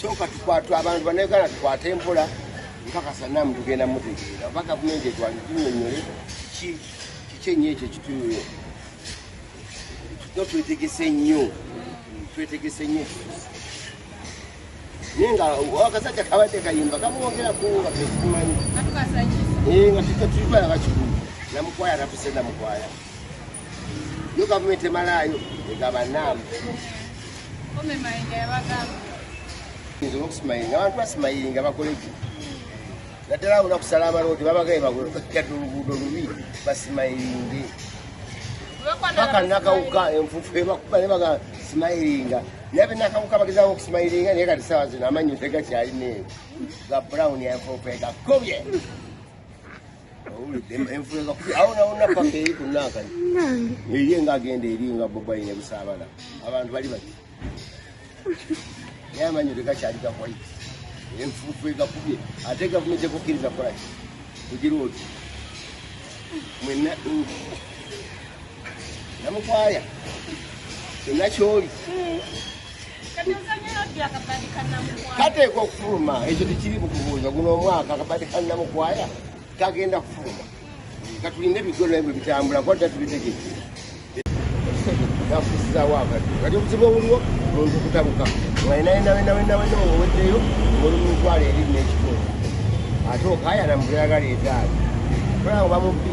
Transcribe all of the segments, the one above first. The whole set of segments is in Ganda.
soka tukwatwa abantu banayuganda tukwate empola nkakasa namu tugenda mutegeera oba gavumenti etwalitunyonyole kiki kiki enyo ekyo kitunuyo no twetegese nnyo twetegese nnyo naye nga akasajja kabadde kayimba kamwongera kunga tekimanyi nga tuja tulibalaba kikulu namukwaya natuse namukwaya Yo government emalaayo egaba naamu. Kome mayinga yabagamba. Nze okusimayinga abantu basimayinga bakoleki. Naddala awo nakusala amaloodi babagaye bagadde oluguudo lubi basimayinge. Paka nakawuka enfufu ebakuba ne baga simayiringa. Nabe nakawuka bagezawo okusimayiringa naye kati sawa zino amannyo tegakyalina eyo. Ga brown enfufu egakubye. eri nga agenda eri nga bobayi ne busaabala abantu bali bati naye amanyo tegakyali gakwai enfuufu egakubye ate gavumenti ekukkiriza kolaki kugira oti mwenna namukwaya kyonna kyoli kateeka okufuluma ekyo tekiri bukubuuza guno omwaka akabadi kanamukwaya kagenda kufuluma katulinde ebigolo ebyo bitambula kuba tatubitegeke gafusizawo akati kati obuzibu obuliwo muntu kutabuka ngaenaenaenaenaena oweddeyo olumutwala eri nekitundu ate okayana mubuyagala ezaali kulaba bamubbi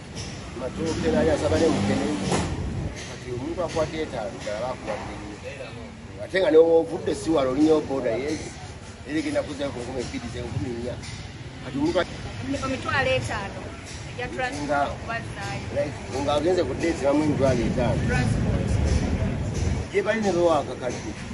matooke naye asaba ne mukene kati omuntu akwata etaano ddala bakuwadde ate nga newovudde siwala olinya oboda ye era egenda kuzayo ku nkumi ebbiri ze nkumi nnya kati omuntu omitwalo etaano nga agenze ku deeti bamu emitwalo etaano gye bali ne bewakakadde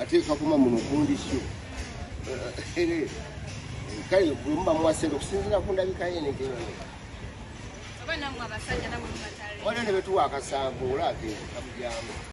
ate kakuma muno kundisyo kale bwemuba muwasente okusinzira ku ndabika yenegeobanamwe abasajja namwe mubatale waliwo ne betuwa akasanvu olabye kamujambo